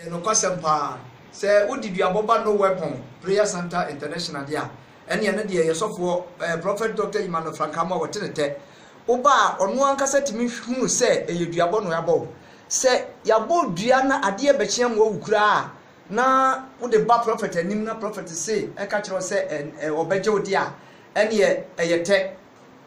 Ɛyɛ nokwasɛm paa. Sɛ wode duabɔ ba No Weapon Prayer Centre International de a, ɛne ɛno deɛ yɛ sɔfoɔ eh, Prophet Doctor Emmanuel Frank Amoah wɔte ne tɛ. Woba a, ɔno ankasa tumi hunu sɛ ɛyɛ duabɔ na yɛabɔ wo. Sɛ yɛabɔ dua na adeɛ bɛkye amoa wo koraa a, na wode ba Prophet anim na Prophet se ɛka kyerɛ wo sɛ ɛ, ɔbɛgye wo deɛ a, ɛneɛ ɛyɛ tɛ.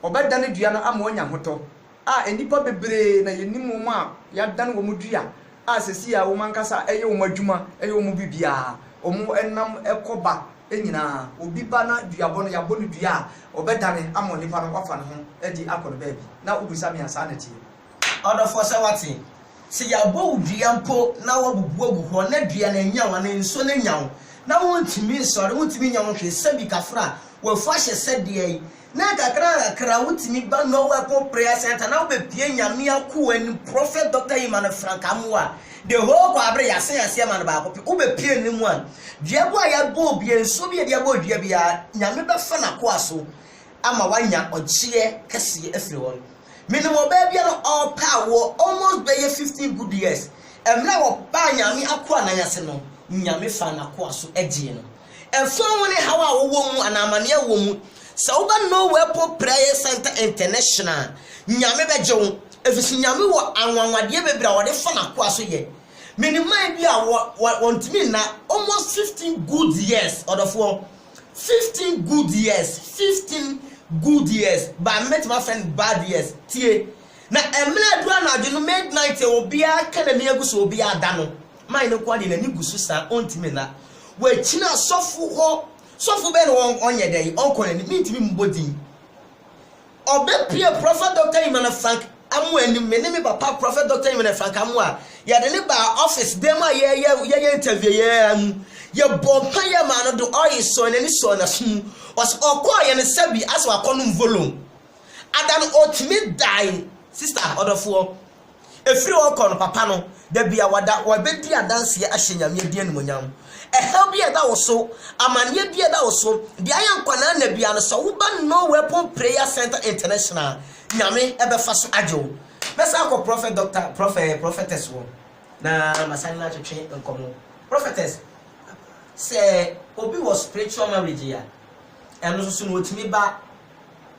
Ɔbɛdane dua no ama woanya ahotɔ. a nnipa bebree na yenim wɔn a yɛadan wɔn dua a seesei a wɔn ankasa yɛ wɔn adwuma, yɛ wɔn biribiara, wɔn nam kɔ ba nyinaa. Obi ba na duabɔ no, yɛabɔ no dua a, ɔbɛdane ama onipa no, wafa ne ho adi akɔ ne baabi. Na wubisa me a, saa na ɛteɛ. Ɔdɔfoɔ, sɛ woate, sɛ yɛabɔ wo dua mpo na woabubu agu hɔ na dua no annya wo anaa nsuo no annya wo na wontumi nsɔre, wontumi nyɛ ho hwee, sɛbi kafra a w'afuo ahyɛ sɛdeɛ Na nkakrankakra wotumi ba Norway po Prayer Centre na wobepue Nyame akoa nim Prophet Doctor Emmanuel Frank Amoah the whole Kwabre Yasen aseɛ ma no baako pɛ wobepue no mu a dua bu a yɛabɔ obia nsuo bi a yɛde abɔ dua biara Nyame bɛfa nakoa so ama wanya ɔgyeɛ kɛseɛ afiri hɔ no menim ɔbaa bi a na ɔpɛ awoɔ almost bɛyɛ 15 good years ɛmmerɛ a ɔbaa Nyame akoa nan ase no Nyame faa nakoa so gyee no Ɛmfa ho ne haw a wowɔ mu anaa amanneɛ a wowɔ mu, sɛ woba Norway Airport Prayer Centre International a, Nyame bɛgye wo, efisɛ Nyame wɔ anwanwadeɛ bebree a ɔde fa N'akoa so yɛ. Menim man bi a wɔntumi nna, almost fifteen good years, ɔdɔfoɔ, fifteen good years, fifteen good years, but mɛtumi afrɛ no bad years, tie, na mmerɛ aduru anadwo no, midnight, obiara ka n'ani agu so, obiara da no, Mae no nkoa deɛ n'ani gu so saa ɔntumi nna. Wakyina sɔfo hɔ. Sɔfo bɛn na ɔnyɛ dɛn ɔnkɔ n'anim? Mentumi mmɔ din. Ɔbɛpue Prɔfɛt Dɔkta Imana Frank Amoah anim, me ne me papa Prɔfɛt Dɔkta Imana Frank Amoah, yɛde no baa ɔfis dan mu a yɛyɛ ntɛvio yi ara mu. Yɛbɔɔ mpaeɛ maa no de ɔil sɔɔ n'ani sɔɔ n'aso mu. Ɔse ɔkɔeɛ no sɛbi asɛ wakɔnom Vologne. Ada no ɔtumi dae, sista ɔdɔfoɔ. Ɛfiri hɔ rekɔ no, papa no, da biara, wabɛdi adanseɛ ahyɛ Nyame din animuonyam. Ɛhaw bi a ɛda wo so, amanneɛ bi a ɛda wo so, deɛ ayɛ nkwanaa nna biara no, sɛ woba No Weapon Prayer Centre International a, Nyame bɛfa so agye wo. Mɛsan akɔ Prɔfɛt Dɔkta, Prɔfɛɛ, Prɔfɛtɛs hɔ na masane no atwetwe nkɔmmɔ. Prɔfɛtɛs, sɛ obi wɔ spiritual marriage a, ɛno nso so no, ɔtumi ba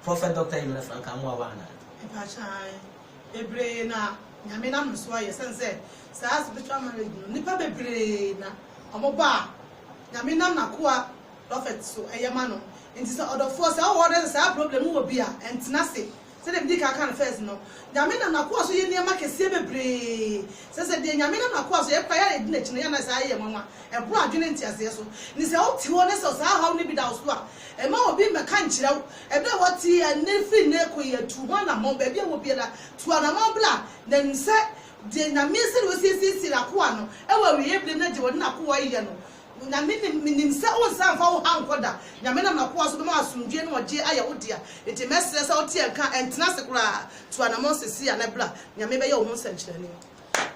Prɔfɛt Dɔkta Yemena Frank Amoawaa anaa? Mepakyɛ, ae. Bebree na Nyame nam no so ayɛ sɛn sɛ saa spiritual marriage no nipa bebree na ɔmo ba a Nyame nam nakoa prophet so ɛyɛ ma no nti sɛ ɔdɔfoɔ sɛ ɔwɔ ɔdɔ sɛ saa problem no wɔ bi a ɛntena ase sɛdeɛ medi kan kaa no first no Nyame nam nakoa so yɛ nneɛma kɛseɛ bebree sɛ sɛ deɛ Nyame nam nakoa so yɛ koraa yɛ a yɛdi nakyi no yɛ na saa yɛ nwanwa ɛboro adwene nteaseɛ so nti sɛ wote hɔ na sɛ saa ɔhaw no bi da wo so a mma obi mmɛka nkyerɛ wo Ɛberɛ a wɔte nne firi Neko yi atu ho anammɔn, baabi a wɔ biara, tu anammɔn bra, na nim sɛ deɛ Nyame, sɛdeɛ Ɔsiesiesiee N'akoa no wɔ awieɛ berɛ mu na deɛ Ɔde N'akoa reyɛ no, Nyame nim, menim sɛ Wonsan mfa wo ha nkɔ da, Nyame nam N'akoa so bɛma asomdwoeɛ ne ɔgyeɛ ayɛ wo dea, enti mɛsrɛ sɛ woteɛ nka, ntena ase koraa, tu anammɔn seseia na bra, Nyame bɛyɛ wo ho nsɛnkyerɛnne.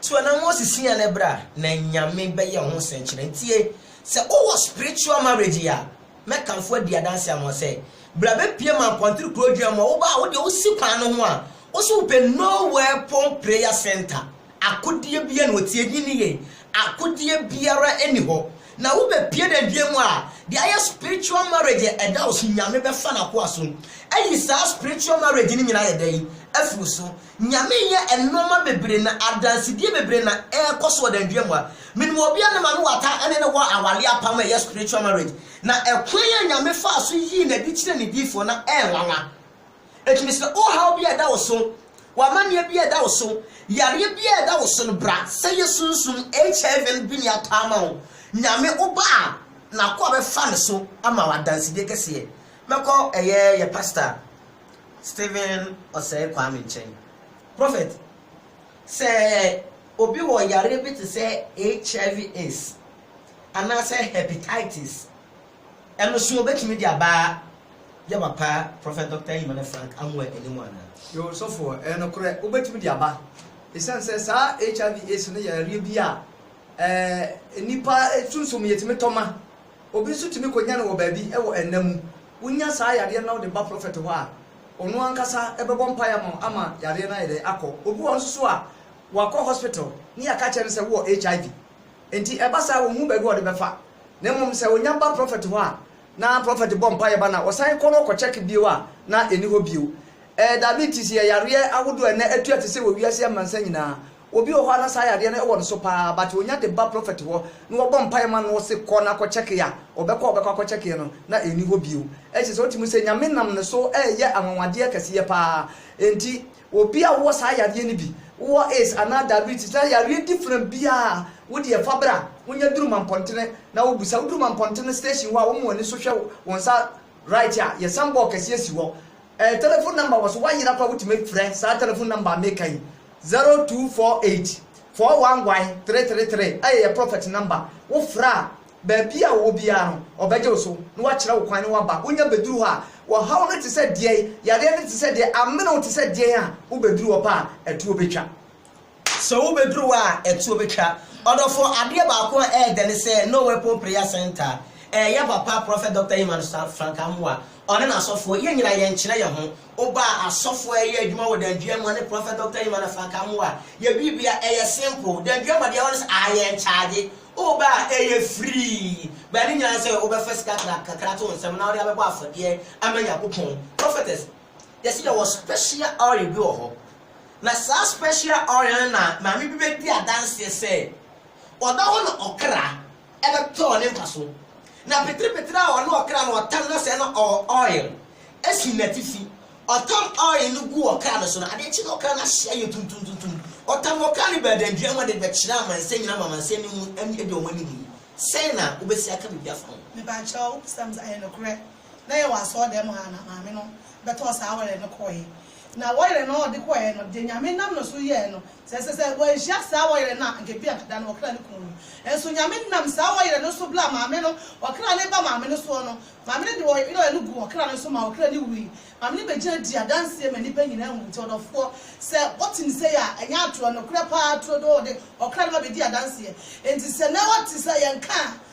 Tu anammɔn seseia na bra, na Nyame bɛyɛ wo ho nsɛnkyerɛnne. Tie, sɛ wowɔ spiritual marriage a, Mɛkanfo adi adanse ama wo sɛ, bere a bepue ma Akwanter Kurow Adwuma mu a woba a, wo deɛ wosi kwan no ho a, wo se wopɛ Nowhere Pon Prayer Centre. Akodeɛ biara nni hɔ, tie din no yie, akodeɛ biara nni hɔ. Na wobepue dɛn dwuma mu a, deɛ ayɛ spiritual marriage a ɛda wo so, Nyame bɛfa n'akoa so ayi saa spiritual marriage no nyinaa ayɛ dɛn? Afi wo so. Nyame nyɛ nnoɔma bebree na adansedie bebree na ɛkɔ so wɔ danedua mu a menim obi a ne maame wata ne no wɔ awale apam a ɛyɛ spiritual marriage na ɛkwan a Nyame faa so yii no adi kyerɛ ne diifoɔ na ɛnwanwa ɛtumi sɛ ohaw bi a ɛda wo so wɔ amanneɛ bi a ɛda wo so yareɛ bi a ɛda wo so no bra sɛ yɛ sunsum HIV no bi ni atɔ ama wo Nyame wo ba a nakoa bɛfa ne so ama wo adansedie kɛseɛ mɛkɔ ɛyɛ yɛ pastor Stephen Osei Kwame nkyɛn. Prophet, sɛ obi wɔ yareɛ bi te sɛ HIV aids anaasɛ hepatitis, ɛno so obɛtumi de aba yɛ papa Prophet Doctor Emmanuel Frank Amoah anim anaa? Yoo ɔsɔfoɔ, ɛyɛ nokorɛ, wobɛtumi de aba. Esiane sɛ saa HIV aids no yɛ yareɛ bi a ɛɛ nnipa sunsum yɛtumi tɔ ma. Obi nso tumi kɔnya no wɔ baabi wɔ nna mu. Wonya saa yadeɛ no na wode ba prɔfɛt hɔ a, ɔno ankasa bɛbɔ mpaeɛ ama wo ama yadeɛ no ayɛ dɛn? akɔ. Obi wɔ hɔ nso so a, wakɔ hospital ne yɛaka akyerɛ no sɛ wowɔ HIV. Enti ɛba saa a, ɔnhu baabi a ɔde bɛfa. Na mmom sɛ ɔnya ba prɔfɛt hɔ a, na prɔfɛt bɔ mpaeɛ ba no a, ɔsan kɔ na ɔkɔ check bio a, na ɛnni hɔ bio. Ɛɛ, diabetes yɛ yareɛ ahodoɔ a ɛnnɛ atua te sɛ wɔ wiase amansan nyinaa. Obi wɔ hɔ a na saa yadeɛ no wɔ no so paa but ɔnya de ba prophet hɔ na wɔbɔ mpaeɛ ma no ɔse kɔ na kɔ kyɛke a ɔbɛkɔ a ɔbɛkɔ akɔ kyɛkeɛ no na ɛnni hɔ bio ɛkyerɛ sɛ wotumi sɛ Nyame nam ne so ɛɛyɛ anwanwadeɛ kɛseɛ paa ɛnti obi a wowɔ saa yadeɛ no bi wowɔ ace anaa diabetes na yareɛ different biaa wodeɛ fa bra wonya duru mampɔntene na wo busa woduru mampɔntene station hɔ a wɔma w'ani so hwɛ wo nsa right a yɛsan bɔɔ kɛseɛ si hɔ ɛɛ telephone number wɔ so woayera koraa wotumi frɛ saa telephone number a meka yi Zero two four eight four one one three three three ɛyɛ yɛ prɔfɛt nɔmba. Wo frɛ a, baabi a wɔwɔ biara no, ɔbɛgye wo so na wakyerɛ wo kwan na woaba. Wonya bɛduru hɔ a, ɔhaw no te sɛ deɛn, yareɛ no te sɛ deɛn, amene wo te sɛ deɛn a, wobɛduru hɔ pɛ a, ɛtoɔ bɛtwa. Sɛ wobɛduru hɔ a, ɛtoɔ bɛtwa. Ɔdɔfoɔ, adeɛ baako a ɛyɛ dɛ ne sɛ, No Weapon Prayer Centre, ɛyɛ yɛn papa Prɔfɛt Dɔkta Emmanuel Frank Amoah, ɔne n'asɔfoɔ, yɛn nyinaa yɛnkyerɛ yɛn ho. Obaa asɔfo a ɛyɛ adwuma wɔ Danduaa mua ne Prɔfɛt Dɔkta Emma na Frank Amoah yɛ biribi a ɛyɛ simple. Danduaa mua deɛ ɛwɔ ne sɛ aa yɛn charge wo ba a ɛyɛ free but ne nyinaa ne sɛ wo bɛfa sika kra kakra ato wo nsam na wo de abɛbɔ afɔdeɛ ama Nyankopɔn. Prɔfɛtɛs, yɛ se yɛwɔ special oil bi wɔ hɔ na saa special oil no na maame bi bɛdi adanseɛ sɛ ɔdɔ hɔ na ɔkra ɛbɛpɛ ɔne mpa so na peterepetere a ɔne ɔkra no ɔtam na sɛɛ na ɔwɔ oil ɛsi natifi ɔtam oil no gu ɔkra no so no adeɛ kye na ɔkra no ahye ayɛ tuntumtuntum ɔtam ɔkra no bɛɛdandua mu ade bɛkyerɛ amansan nyina ma amansan no mu ani ɛdi ɔmo anim yi sɛn na wobɛsi aka biribi afa ho. Mepa kyɛw, Psalms ayɛ nokorɛ. na yɛwɔ asɔɔdan mu ha na maame no bɛtɔɔ saa wɔyerɛ no kɔɔɛ na wɔyerɛ no a ɔde kɔɔɛ no deɛ nyame nam no so yɛɛ no sɛ ɛsɛ sɛ wɔanhyia saa wɔyerɛ no a anka bi anka da no wɔkra no kuu no nso nyame nam saa wɔyerɛ no so bla maame no wɔkra no ba maame no soɔ no maame no de wɔyerɛ no gu wɔkra no so ma wɔkra no wui maame no bɛgyina di adanseɛ ma nnipa nyina ahu nti ɔdɔfoɔ sɛ wɔte ne sɛ yɛ a ɛnyɛ atorɔ nokorɛ paa turo do wɔde wɔkra no ma bɛdi adanseɛ nti sɛ na wɔte sɛ yɛnka a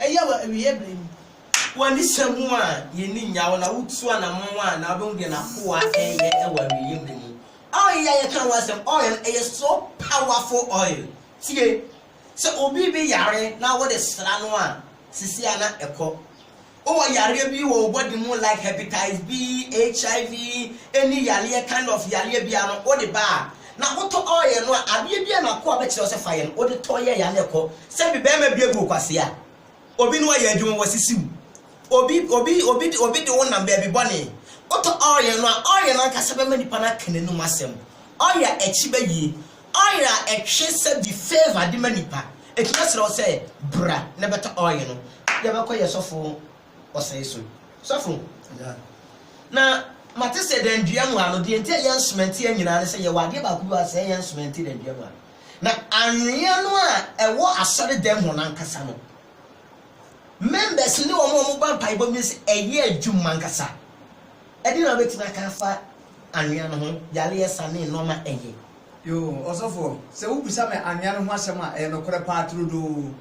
Ɛyɛ wɔ awieeɛ berɛ mu. W'ani sɔ mu a, y'ani nnyaw wo na wotu anamɔn a, na wobɛhu deɛ n'akoa reyɛ wɔ awieeɛ berɛ mu. Oil yi a yɛka ho asɛm, oil no, ɛyɛ so powerful oil. Tie, sɛ obi bi yare na wode sra no a, seesei ara na ɛkɔ. Wowɔ yareɛ bi wɔ wo body mu like Hepatize B, HIV, any yareɛ, kind of yareɛ biara no, wode ba a, Na wotɔ ɔɔ yɛn no a adeɛ biaa na akoa bɛkyerɛ wo sɛ fa yɛn wode tɔ yɛɛ ya na ɛkɔ sɛ bi bɛɛma bi agu okwasea obi ne wayɛ adwuma wɔ sisi wo obi obi obi de obi de wo nam baabi bɔne wotɔ ɔɔ yɛn no a ɔɔ yɛn ankasa bɛma nipa no aka n'anum asɛm ɔɔ yɛ akyi bɛ yie ɔɔ yɛ a ɛtwe sɛ bi favor de ma nipa ɛtumi aserɛ wo sɛ bra na bɛtɔ ɔɔ yɛn no yɛbɛkɔ yɛ sɔfo ɔsɛe so. Sɔfo, na mate sɛ dan dua mu ha no, deɛ nti a yɛn sumɛnte yɛ nyinaa ne sɛ yɛwɔ adeɛ baako bi a sɛe yɛn sumɛnte dan dua mu ha. Na anwea no a ɛwɔ asɔre dan mu no ankasa no, members ne wɔn a wɔba mpaebɔ bi sɛ ɛyɛ adwuma ankasa. Ɛde na wobɛtumi aka afa anwea no ho, yareɛ sa ne nnoɔma ɛyɛ. Yoo, ɔsɔfoɔ, sɛ wobisa me anwea no ho asɛm a, ɛyɛ nokorɛ paa turodoo.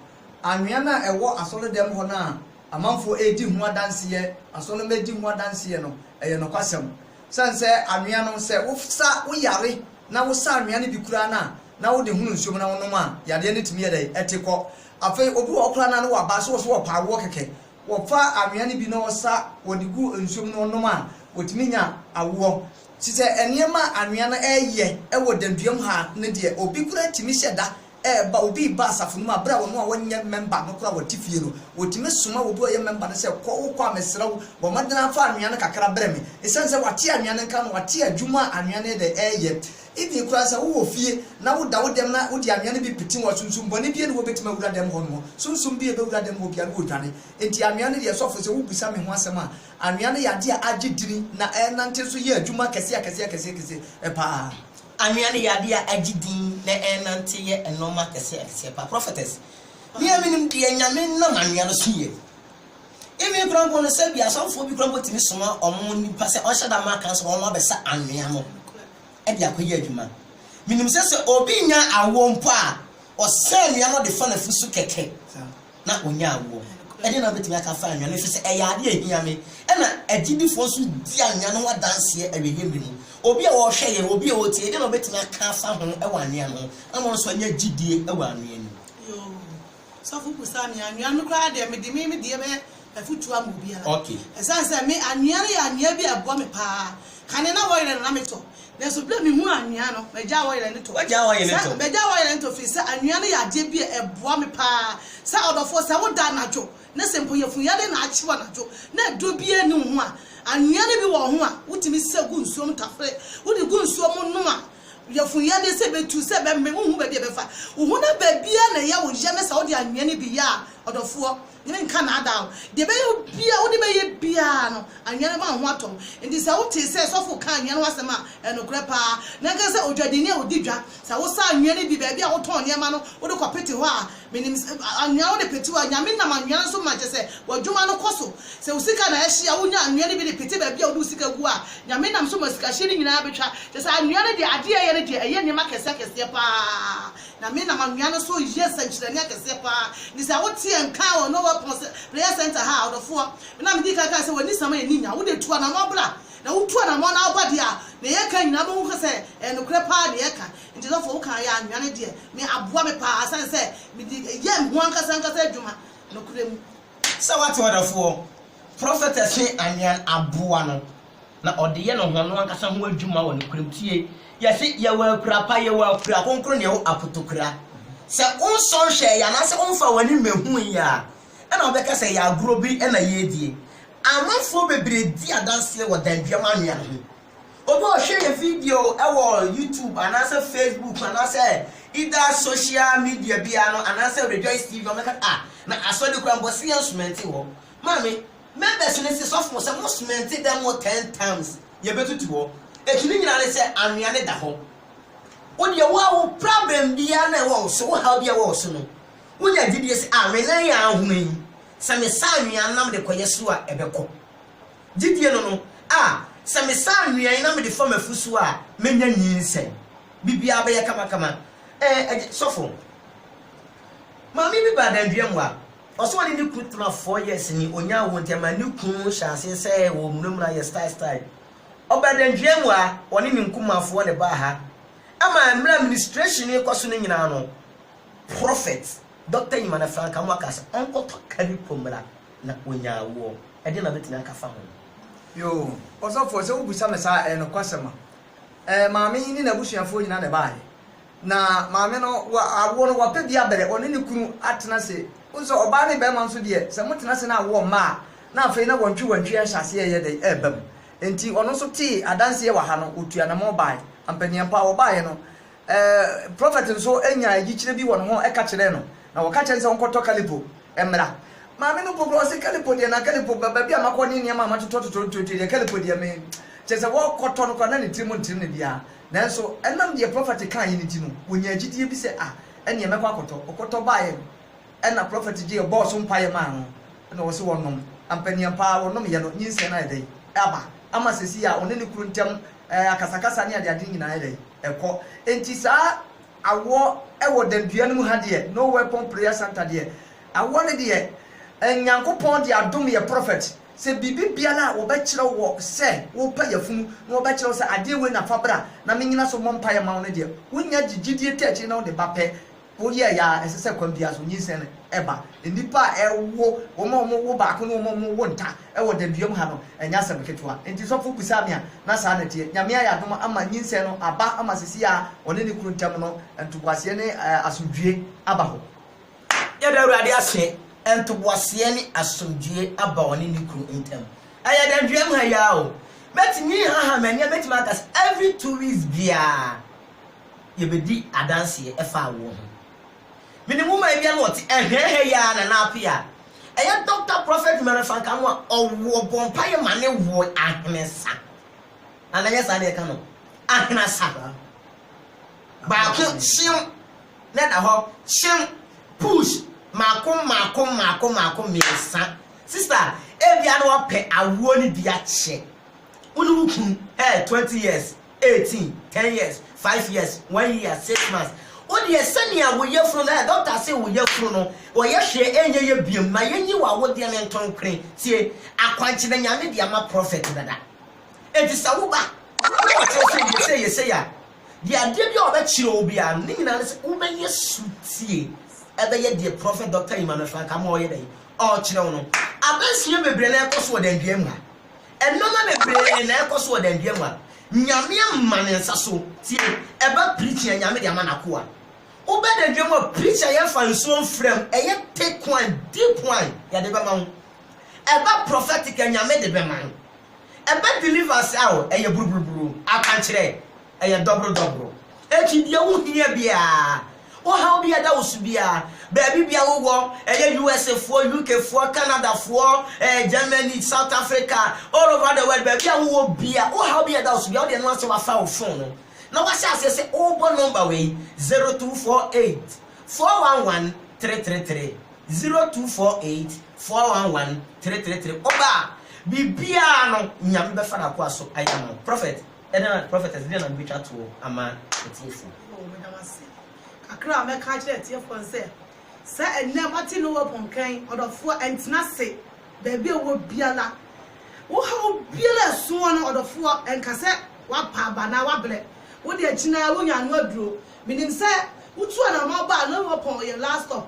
Anwea no a ɛwɔ asɔredɛm hɔ no a amanfoɔ redi ho adanseɛ, asɔremma redi ho adanseɛ no, ɛyɛ nokwasɛm. Ɛsiane sɛ anwea no, sɛ wosa, woyare na wosa anwea no bi koraa no a, na wode hono nsuom na wonom a, yareɛ no tumi yɛ dɛn? Ɛte kɔ. Afei obi wɔ hɔ koraa no a, na waba, so wɔse wɔpa awoɔ kɛkɛ, wɔfa anwea no bi na ɔsa, wɔde gu nsuom na ɔnom a, ɔtumi nya awoɔ. Te sɛ nneɛma a anwea no reyɛ wɔ danduam ha no deɛ, obi koraa tumi hyɛ da ɛreba obi reba asafo no mu a, bere a wɔn a wɔnyɛ mɛmba no koraa wɔte fie no, wotumi soma obi a ɔyɛ mɛmba no sɛ, Kɔ, wokɔ a, mesrɛ wo, bɔ mmɔden ara fa anwea no kakra brɛ me. Esiane sɛ wate anwea no nka no, wate adwuma a anwea no de reyɛ. Even koraa sɛ wowɔ fie na woda wo dɛm na wode anwea no bi pete wo a, sunsum bɔne biara nni hɔ a ebetumi awura dɛm hɔ no hɔ. Sunsum bi a ebewura dɛm hɔ biara no, wodwane. Enti anwea no deɛ, sɔfo, sɛ wubisa me ho asɛm a, anwea no yɛ ade a agye din na ɛrenante nso yɛ adwuma akɛseakɛseakɛseakɛse paa. Anwea ne yade a agye din na ɛrenante yɛ nnoɔma akɛseɛ akɛseɛ paa. Prophetess, me a menim deɛ Nyame nam anwea no so yɛ. Even koraa mpo no sɛbi asɔfoɔ bi koraa mpo tumi soma wɔn nipa sɛ ɔnhyɛ da mma kansa wɔn abɛsa anwea no de akɔyɛ adwuma. Menim sɛ sɛ obi nyaa awoɔ mpo a, ɔsa anwea no de fa n'afu so kɛkɛ. na ɔnya awoɔ. Ɛdeɛn na wobɛtumi aka afa anwea no nso sɛ ɛyɛ adeɛ a ɛhia me? Ɛna agyidifoɔ nso di anwea no ho adanseɛ awieeɛ mmerɛ mu. Obi a ɔrehwɛ yɛn, obi a ɔretie yɛn, ɛdeɛn na ɔbɛtumi aka afa ho wɔ anwea no ho ama ɔno nso anya gyidie wɔ anwea no mu? Yoo, sɔfo busa me, anwea no koraa deɛ mede me me deɛ bɛyɛ afotu ama obiara. Esiane sɛ me anwea no yɛ anwea bi a ɛboa me paa, kane na wɔyere no na metɔ. Nanso bere a mihuu anwea no, magyae wɔyere no tɔ. Sɛ, magyae wɔyere no tɔ efiri sɛ anwea no yɛ adeɛ bi a ɛboa me paa. Sɛ ɔdɔfoɔ, sɛ wo da anadwo na sɛ mpo yafunyare na akye wo anadwo na aduro biara nni wo ho a, anwea no bi wɔ ho a wotumi sa gu nsuo mu tafere. Wode gu nsuo mu nom a, yafunyadeɛ sɛ ɛbɛtu, sɛ ɛbɛmene, wonhu baabi a ɛbɛfa wo ho na baabiara na ɛyɛ wo ya ne sɛ wode anwea no bi yɛ a, ɔdɔfoɔ. Yɛrenka nnaadaa wo. Deɛ ɛbɛyɛ wo biara, wode bɛyɛ biara no, anwea no bɛma wo ho atɔ wo. Enti sɛ wotee sɛ sɔfo rekaa anwea no ho asɛm a, ɛyɛ nokorɛ pa ara. Na ɛnka sɛ odwadini a ɔdi dwa. Sɛ wosa anwea no bi baabi a wotɔn nneɛma no, wode kɔpete hɔ a, menim sɛ anwea wode pete hɔ a, Nyame nam anwea no so ma kyerɛ sɛ w'adwuma no kɔ so. Sɛ wo sika na ɛhye a, wonya anwea no bi de pete baabi a wode wo sika gu a, Nyame nam so ma sikahyeɛ no nyinaa bɛtwa. Kyerɛ sɛ, anwea no deɛ, adeɛ a ɛyɛ no deɛ, ɛyɛ nneɛma akɛseɛ akɛseɛ pa ara. Na me na m'anoa no so yɛ sɛnkyerɛnne akɛseɛ paa, ne sɛ wo teɛ nkaa wɔ Noah Pon sɛ prayer center ha a, ɔdɔfoɔ, me na me dii kan kaa sɛ w'ani sɛm a ɛnni nya, wo deɛ tu anamɔn bra, na wo tu anamɔn na wo ba deɛ a, deɛ yɛ ka nyinaa bɛhu sɛ ɛyɛ nokorɛ paa deɛ yɛ ka, nti dɔfoɔ wo kaa yɛ anoa no deɛ me aboa me paa ɛsiane sɛ me de yɛ me ho ankasa ankasa adwuma nokorɛ mu. Sɛ wate ɔdɔfoɔ, prophetess ne anoa no aboa no. na ɔde yɛ no hɔn ankasa ho edwuma wɔ nokwar mu. Tsie, yɛse yɛwɔ akura pa, yɛwɔ akura krɔnkrɔn na yɛwɔ apotokura. Sɛ onsɔ nhwɛe yi anaasɛ ɔmmfa w'ani mmehu yi a, nna wɔbɛka sɛ ɛyɛ agorɔ bi na yɛredie. Amanfoɔ bebree di adanseɛ wɔ danduam anwea ho. Obi a ɔhwɛ yɛn video wɔ YouTube anaasɛ Facebook anaasɛ either social media biara no anaasɛ Rejoice TV no, ɔbɛka ah, na asɔre koraa mpo ɔse yɛnso mente hɔ. Maame, Members no se sɔfo sɛ mo cement dan mu ten times yɛbɛtutu hɔ, akyi no nyinaa ne sɛ anwea no da hɔ. Wo deɛ wo a wo problem biara no a ɛwɔ wo so, wo haw biara ɛwɔ wo so no, wo nya gyidie sɛ ah me nan a ahono yi, sɛ me sa anwea no na mede kɔyɛ so a ɛbɛkɔ. Gyidie no no, ah sɛ me sa anwea yi na mede fa m'afu so a mɛnya nyinsɛn. Biribiara bɛyɛ kama kama. Eh, agye, sɔfo. Maame bi baa Dandweamu a Ɔsɛ ɔne ne kunu tena four years ni onyaa wɔ nti ɛma ne kunu hyɛ aseɛ sɛɛ wɔ munamuna yɛ style style. Ɔbaa Danduaa mu a ɔne ne nkumanfoɔ na ɛbaa ha ɛma mmerɛ a ministration rekɔ so no nyinaa no Prophet Doctor Nyimana Frank Amoah kaa sɛ ɔnkɔtɔ ka ne kurom mmra na ɔnyaa awoɔ. Ɛdeɛn na mɛtumi aka afa ho? Yoo, Ɔsɔfoɔ sɛ wobisa me saa a ɛyɛ nokwasɛm a. Ɛɛ maame yi ne n'abusuafoɔ nyinaa na ɛbaeɛ. Na maame no wa awoɔ no wapɛ bi abɛrɛ ɔne ne kunu atena se. Wohu sɛ ɔbaa ne bɛɛma nso deɛ sɛ motena se na awoɔ mma a na afei na wɔntwe wɔntwe ahyɛ aseɛ ɛɛyɛ dɛn ɛɛba mu. Enti ɔno nso tee adanseɛ wɔ ha no ɔtuu anamɔn baae. Ampa ni ampa wɔbaaeɛ no ɛɛ Prɔfɛt nso nyaa ayikyerɛ bi wɔ ne ho ɛka kyerɛɛ no na wɔka kyerɛɛ no sɛ ɔnkɔtɔ kalipo mmra. Maame no mpo koraa ɔse kalipo deɛ na kalipo ba baabi a makɔ ne nneɛma a matotɔ totɔ ntuotuo deɛ kalipo deɛ me kyerɛ sɛ wɔɔkɔtɔ no koraa na ne tiri mu ntere no biara. Nanso ɛnam deɛ prɔfɛte kaeɛ no nti no, wɔnyaa gyidie bi sɛ, Ah, ɛnneɛ mɛkɔ akɔtɔ. Ɔkɔtɔ baeɛ no, ɛnna prɔfɛte gyeeɛ bɔɔ so mpaeɛ maa no, ɛnna ɔse wɔnnom. Ampaneampa ara wɔnomeeɛ no, nyinsɛn no ayɛ dɛn? Aba. Ama seesei a ɔne ne kunu ntam akasakasa ne adeade no nyinaa ayɛ dɛn? Ɛkɔ. Enti saa awoɔ wɔ Danndua no mu ha deɛ, No Weapon Prayer Centre deɛ, awoɔ no deɛ, Nyankopɔn de adom yɛ prɔfɛte. Sɛ biribi biara a wɔbɛkyerɛ wo wɔ sɛ worepɛ yafunu na wɔbɛkyerɛ wo sɛ adeɛ wei na fa bra na menyina so mmɔ mpaeɛ mma wo no deɛ, wonya gye gyidie ta akyire na wode ba pɛ. Woyɛɛyɛ ara, ɛsɛ sɛ kwan biara so nyinsɛn no ba. Nnipa a ɛwo, wɔn a wɔwo baako ne wɔn a wɔwo nta wɔ Danduam ha no, ɛnyɛ asɛm ketewa. Enti sɔfo bisaa me a, na saa na ɛteɛ. Nyame ayɛ adom ama nyinsɛn no aba ama seesei a ɔne ne kunu ntam no, ntoboaseɛ ne asomdwoeɛ aba hɔ. Yɛda Awurade ase, ntoboaseɛ ne asomdwoeɛ aba ɔne ne kunu ntam. Ɛyɛ dɛn dua mu ha yi ara o. Mɛtumi haha m'ani a mɛtumi aka sɛ every two weeks biara yɛbɛdi adanseɛ ɛfa awoɔ ho. Menim wo man biara na ɔte ɛhwɛn ha yi ara Nana Apea a ɛyɛ Doctor Prophet Mary Fanka no a ɔwo ɔbɔ mpaeɛ ma ne woɔ ahensa. Nana nyɛ saa na yɛka no ahenasa baako hyeem na da hɔ, kyew, push, mako mako mako mako mmiɛnsa, sister ebia na ɔpɛ awoɔ no bi akyɛ wo ne wo kunu, eh, twenty years, eighteen, ten years, five years, one year, six months, wo deɛ sɛnea wo yafunu no, eh, doctor se wo yafunu no, wɔyɛ hwee ɛnyɛ yɛ biom, ma yɛnyi wo awodeɛ no ntonkore, tie, akwankye na Nyame de ama prophet dada, enti sɛ wo ba na ɔkyerɛ wo sɛ yɛ sei yɛ sei a, Deɛ adeɛ biara a ɔbɛkyerɛ wo biara no, ne nyinaa ne sɛ wobɛyɛ sotie ɛbɛyɛ deɛ Prɔfɛt Dɔkta Emmanuel Frankamah ɔyɛ dɛn? Ɔrekyerɛ wo no. Adansea bebree na ɛrekɔ so wɔ Danduam ha. Nnoɔma bebree na ɛrekɔ so wɔ Danduam ha. Nyame ama ne nsa so. Tie, ɛba preaching a, Nyame de ama n'akoa. Wobɛ Danduam a, preach a yɛmfa nsuo mfra mu, ɛyɛ thick wine, deep wine, yɛde bɛma wo. Ɛba prophetic a, Nyame de bɛma wo. Ɛbɛ deliverse a o, ɛyɛ buruburuburu, akwankyerɛ, ɛyɛ dɔboro dɔboro. Eti deɛ wo hia biara, ohaw bi a ɛda wo so biara, baabi biara wo wɔ, ɛyɛ USA foɔ, UK foɔ, Canada foɔ, eh, Germany, South Africa, all over the world, baabi a wo wɔ biara, ohaw bi a ɛda wo so biara, wodeɛ no asɛ wafa wo phone no, na wahyɛ aseɛ sɛ ɔɔbɔ number wei, 0248 411 333, 0248. Four one one three three three Oba a biribiara no Nyame bɛfa n'akoa so ayɛ ama wo Prophet ɛdɛn na Prophetess ɛdɛn na mebɛtwa toɔ ama atiefoɔ. Aww meda wo ase Kakra a mɛka akyerɛ atiefoɔ no sɛ sɛ ɛnnɛ moate no open nkran ɔdɔfoɔ ɛntena ase baabi a wowɔ biara wo haw biara a ɛso wɔ no ɔdɔfoɔ ɛnka sɛ woapa aba anaa woabrɛ wode akyinaa wonya ano aduro menim sɛ wotu anamɔ ba a no open ɔyɛ last stop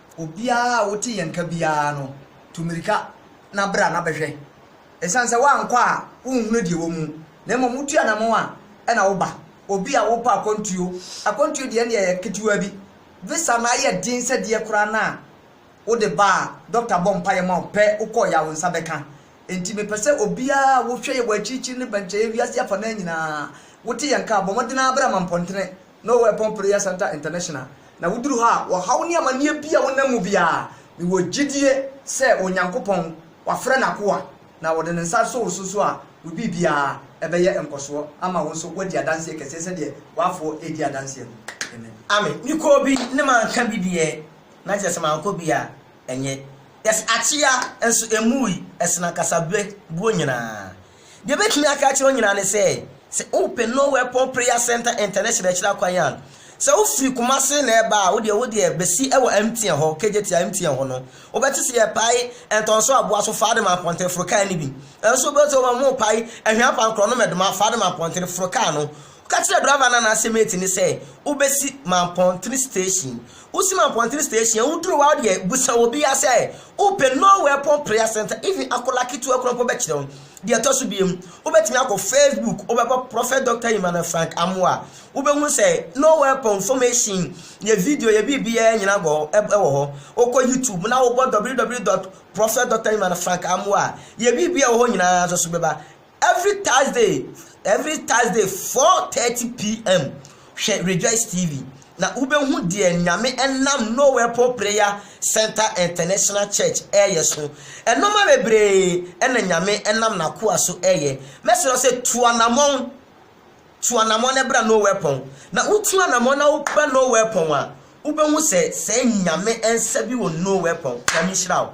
Obiara a wote yɛn nka biara no, tu mmirika na bra na bɛhwɛ. Esiane sɛ woankɔ a, wonhunu deɛ ɛwɔ mu, na mmom wotu anammɔn a, ɛnna woba. Obi a wopɛ akwantuo, akwantuo deɛ ɛnneɛ ɛyɛ ketewa bi. Visa no ayɛ den sɛ deɛ koraa no a, wode ba a, dɔkta bɔ mpaeɛ ma wo pɛ, wokɔeɛ a, wo nsa bɛka. Enti mepɛ sɛ obiara a wohwɛ yɛn wɔ akyirikyiri ne bɛnkyɛeɛ wiase afa no ara nyinaa, wote yɛn nka a, bɔ mmɔden ara bra Mampɔntene No Weapon Prayer Centre International, na woduru hɔ a, ɔhaw ne amanneɛ bi a wonam mu biara, mewɔ gyidie sɛ Onyankopɔn, wafrɛ N'akoa, na ɔde Ne nsa asɔ wo so so a, wo biribiara ɛbɛyɛ nkɔsoɔ ama wo nso woadi adanseɛ kɛseɛ sɛdeɛ w'afoɔ redi adanseɛ no. Amen. Amen. Me kɔɔ bi ne manka bi deɛ na kyerɛ sɛ mankɔ bi a ɛnyɛ. Yes, akyea nso ɛmmuui, ɛsene akasa berɛ buo nyinaa. Deɛ mɛtumi aka akyerɛ wo nyinaa ne sɛ, sɛ wopɛ No Weapon Prayer Centre International akyiri akwan a, sɛ wofiri Kumasi na ɛreba a, wodeɛ wodeɛ bɛsi wɔ MTN hɔ, KJT a MTN hɔ no, wobɛte sɛ yɛrepae Ntɔnso Aboa so fa de ma Mpɔnten, foro kaa no bi. Nso wobɛte sɛ wɔn repae Ahwea Pankorɔ no Mɛdoma fa de ma Mpɔnten, foro kaa no. Ka kyerɛ driver no anaasɛ mate no sɛ wobɛsi Mampɔntene station. Wosi Mampɔntene station a, woduru hɔ a wodeɛ busa obiara sɛ wopɛ Norway Pon Prayer Centre, even akwadaa ketewa koraa mpo bɛkyerɛ wo. Deɛ ɛtɔ so biom, wobɛtumi akɔ Facebook, wobɛbɔ Prophet Doctor Emmanuel Frank Amoah a, wobɛhunu sɛ Norway Pon information, yɛ video, yɛ biribiara nyina bɔ ɛwɔ hɔ. Wokɔ YouTube na wobɔ www dot Prophet Doctor Emmanuel Frank Amoah a, yɛ biribiara wɔ hɔ nyinaa nso so bɛba. Every Thursday every Thursday four thirty PM hwɛ Rejoice TV na wobɛhu deɛ Nyame nam No Weapon Prayer Centre International Church ɛɛyɛ so. Nnoɔma bebree na Nyame nam N'akoa so ɛɛyɛ. Mɛsrɛ wo sɛ tu anamɔn, tu anamɔn na bra No Weapon. Na wotu anamɔn na woba No Weapon a, wobɛhu sɛ sɛ Nyame nsa bi wɔ No Weapon. Nyame nhyira wo.